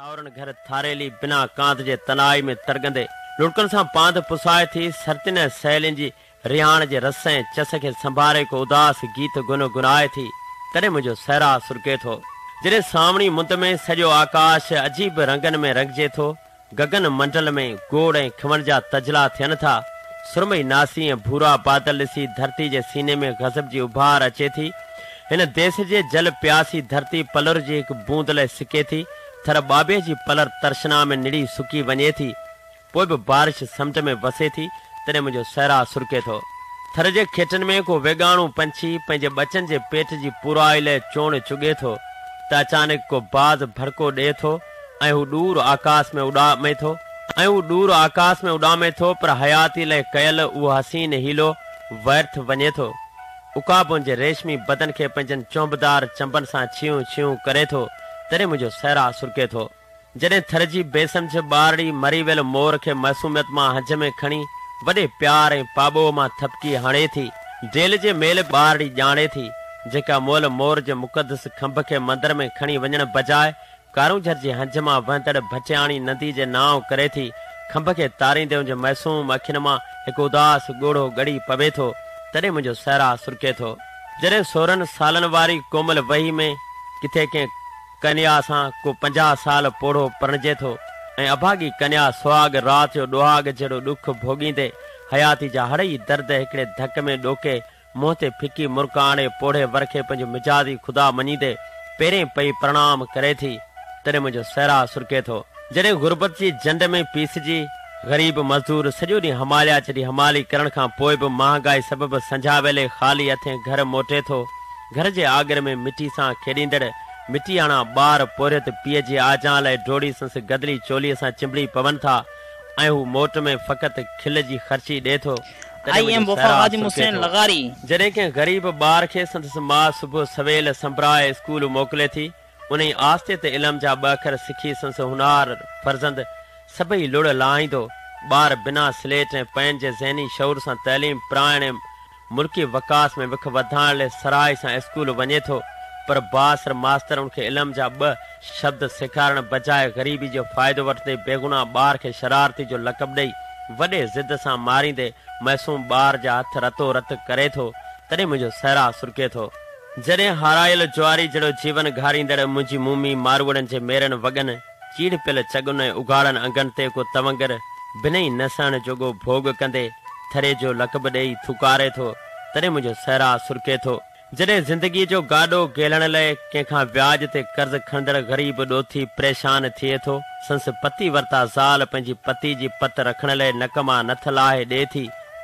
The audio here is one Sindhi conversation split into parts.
ساورن گهر ٿاريلي بنا ڪانت جي تنهائي ۾ ترڳندي لڙڪن سان پانڌ پسائي ٿي سرتين ۽ سهيلين جي رهاڻ جي رس ۽ چس کي سنڀاري ڪو اداس گيت گن گنائي ٿي تڏهن منهنجو سهرا سرڪي ٿو جڏهن سامڻي مند ۾ سڄو آڪاش عجيب رنگن ۾ رڱجي ٿو گگن منڊل ۾ گوڙ ۽ کمڻ جا تجلا ٿين ٿا سرمئي ناسي ۽ ڀورا بادل ڏسي ڌرتي جي سيني ۾ غضب جي اڀار اچي ٿي هن ديس جي جل پياسي ڌرتي پلر جي هڪ بوند لئه سڪي ٿي، ٿر ٻاٻي جي پلر ترشنا ۾ نڙي سڪي وڃي ٿي، پوء به بارش سمنڊ ۾ وسي ٿي، تڏهن منهنجو صحرا سرڪي ٿو. ٿر جي کيٽن ۾ ڪو ويڳاڻو پنڇي پنهنجي ٻچن جي پيٽ جي پورائي لئه چونڊ چڳي ٿو، ته اچانڪ ڪو باز ڀڙڪو ڏئي ٿو ۽ هو ڏور آڪاس ۾ اڏامي ٿو ۽ هو ڏور آڪاس ۾ اڏامي ٿو پر حياتي لئه ڪيل اهو حسين حيلو وئرٿ وڃي ٿو. عقابن جي ريشمي بدن کي پنهنجن چونبدار چنبن سان ڇيون ڇيون ڪري ٿو، تڏهن منهنجو سهرا سرڪي ٿو. جڏهن ٿر جي بي سمجهه ٻارڙي مري ويل مور کي معصوميت مان هنج ۾ کڻي وڏي پيار ۽ پاٻوهه مان ٿڦڪي هڻي ٿي، جيل جي ميل ٻارڙي ڄاڻي ٿي، جيڪا مئل مور جي مقدس کنڀ کي مندر ۾ کڻي وڃڻ بجاء ڪارونجهر جي هنج مان وهندڙ ڀٽياڻي ندي جي نانء ڪري ٿي کنڀ کي تاريندي ان جي معصوم اکين مان هڪ اداس ڳوڙهو ڳڙي پوي ٿو تڏهن منهنجو سهرا سرڪي ٿو. جڏهن سورهن سالن واري ڪومل وهي ۾ ڪٿي ڪنهن ڪنيا سان ڪو پنجاهه سال پوڙهو پرڻجي ٿو ۽ اڀاڳي ڪنيا سهاڳ رات جو ڏوهاڳ جهڙو ڏک ڀوڳيندي حياتي جا هڙئي درد هڪڙي ڌڪ ۾ ڏوڪي منهن تي ڦڪي مرڪ آڻي پوڙهي ور کي پنهنجو مجازي خدا مڃيندي پيرين پئي پرڻام ڪري ٿي، تڏهن منهنجو سهرا سرڪي ٿو. جڏهن غربت جي جنڊ ۾ پيسجي، غريب مزدور سڄو ڏينهن هماليا چٽي همالي ڪرڻ کان پوء به مهانگائي سبب سنجهاء ويلي خالي هٿين گهر موٽي ٿو، گهر جي آڳر ۾ مٽي سان کيڏيندڙ مٽياڻا ٻار پورهيت پيء جي آجان لئه ڊوڙي سنس گدلي چوليء سان چنبڙي پون ٿا ۽ هو موٽ ۾ فقط کل جي خرچي ڏئي ٿو. تڏهن ايم منهنجو وفا سهرا خادم سرڪي حسين ٿو. لغاري. جڏهن ڪنهن غريب ٻار کي سندس ماء صبح سويل سنبرائي اسڪول موڪلي ٿي، انهي آستي تي علم جا ٻه اکر سکي سندس هونهار فرزند سڀئي لڙ لاهائيندو، ٻار بنا سليٽ ۽ پين جي ذهني شعور سان تعليم پرائڻ ۽ ملڪي وڪاس ۾ وک وڌائڻ لئه سرهائي سان اسڪول وڃي ٿو، پر بااثر ماستر ان کي علم جا ٻه شبد سيکارڻ بجاء غريبي جو فائدو وٺندي بيگناهه ٻار کي شرارتي جو لقب ڏئي وڏي ضد سان ماريندي معصوم ٻار جا هٿ رتو رت ڪري ٿو تڏهن منهنجو سهرا سرڪي ٿو. جڏهن هارايل جواري جهڙو جيون گهاريندڙ منهنجي مومي ماروئڙن جي ميرن وڳن چيڙپيل چڳن ۽ اگهاڙن انگن تي ڪو تونگر بنهي نه سهڻ جوڳو ڀوڳ ڪندي ٿري جو لقب ڏئي ٿوڪاري ٿو تڏهن منهنجو سهرا سرڪي ٿو. جڏهن زندگيء جو گاڏو گهلڻ لئه ڪنهن کان وياج تي قرض کڻندڙ غريب ڏوٿي پريشان ٿئي ٿو، سنس پتي ورتا زال پنهنجي پتي جي پت رکڻ لئه نڪ مان نٿ لاهي ڏئي ٿي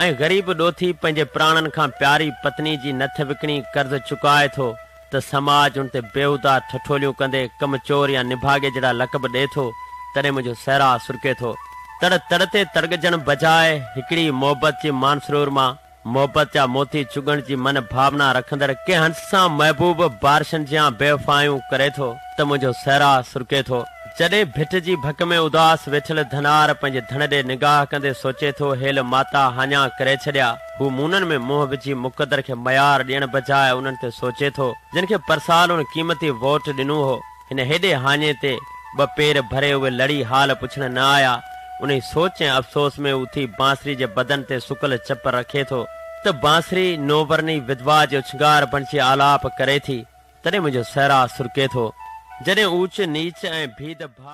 ۽ غريب ڏوٿي پنهنجي پراڻن کان پياري پتني جي نٿ وڪڻي قرض چڪائي ٿو ته سماج هن تي بيهوده ٺٺوليون ڪندي ڪم چور يا نڀاڳي جهڙا لقب ڏئي ٿو، تڏهن منهنجو سهرا سرڪي ٿو. تڙ تڙ تي تڙڳجڻ بجاء هڪڙي ئي محبت جي مانسرور مان محبت جا موتي چڳڻ جي من ڀاونا رکندڙ ڪنهن هنس سان محبوب بارشن جيان بيوفائيون ڪري ٿو ته منهنجو سهرا سرڪي ٿو. جڏهن ڀٽ جي ڀڪ ۾ اداس ويٺل ڌنار پنهنجي ڌڻ ڏي نگاهه ڪندي سوچي ٿو هيل ماتا هاڃا ڪري ڇڏيا، هو مونن ۾ منهن وجهي مقدر کي ميار ڏيڻ بجاء انهن تي سوچي ٿو، جن کي پرسالون قيمتي ووٽ ڏنو هو. هن هيڏي هاڃي تي ٻه پير ڀري اهي لڙي حال پڇڻ نه آيا. انهي سوچ ۽ افسوس ۾ اوٿي بانسري جي بدن تي سڪل چپ رکي ٿو ته بانسري نوبرني ودوا جي اڇنگار بڻجي آلاپ ڪري ٿي. تڏهن منهنجو صحرا سرڪي ٿو. جڏهن اوچ نيچ ۽ ڀيد ڀا.